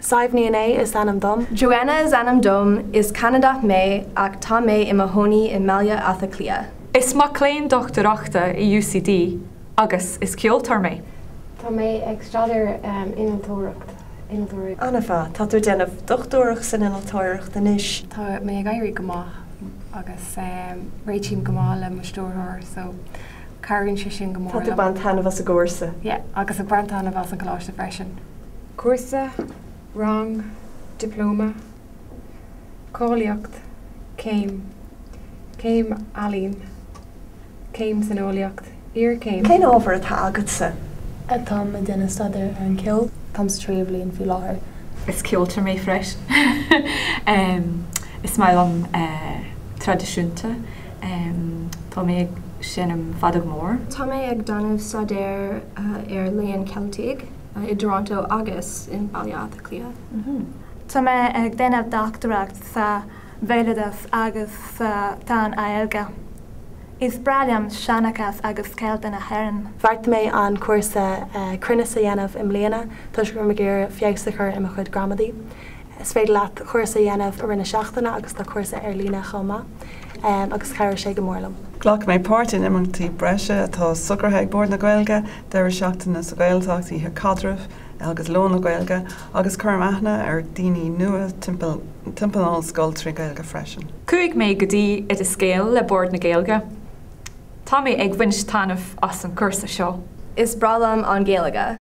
Sadhbh Ní Fhinné is ainm dom. Joanna is ainm dom. Is Ceanadach mé ach tá mé i mo chónaí i mBaile Átha Cliath. Is mac léinn dochtúireachta i UCD agus is ceoltóir mé. Tá mé ag staidéar innealtóireachta. Anna Tá tú ag déanamh dochtúireacht san innealtóireacht anois. Tá sé ag éirí go maith agus réitím go maith le mo stiúrthóir. Cabhraíonn sé sin go mór. Tá tú ag baint taitneamh as an gcúrsa. Yeah, agus ag baint taitneamh as an gcoláiste freisin. Cúrsa, rang, dioplóma, cáilíocht, céim, céim ealaíon, céim san eolaíocht, iarchéim. Cén ábhar atá agatsa? Táim ag déanamh staidéar ar an ceol. Táim sa tríú bhliain faoi láthair. Is ceoltóir mé freisin. Is maith liom an traidisiúnta. Tá mé ag seinm feadóg mhór. Tá mé ag déanamh staidéar ar Léann Ceilteach i dToronto agus i mBaile Átha Cliath. Tá mé ag déanamh dochtúireacht sa bhéaloideas agus sa tSean-Ghaeilge. Is breá liom seanchas agus Ceiltigh na hÉireann. Bheartaigh mé an cúrsa cruinnis a dhéanamh i mbliana toisc go raibh mé ag iarraidh feabhas a chur i mo chuid gramadaí. Is féidir leat cúrsa a dhéanamh i rith na seachtaine agus tá cúrsa ar líne chomh maith agus chabhraigh sé go mór liom. Ghlac mé páirt in imeachtaí breise atá socraithe ag Bord na Gaeilge, deireadh seachtaine sa Ghaeltacht, oíche caidrimh agus lón na Gaeilge, agus cuirim aithne ar dhaoine nua timpeall an ollscoil trí Ghaeilge freisin. Chuaigh mé go dtí Oideas Gael le Bord na Gaeilge. Tá mé ag baint taitneamh as an cúrsa seo. Is breá liom an Ghaeilge.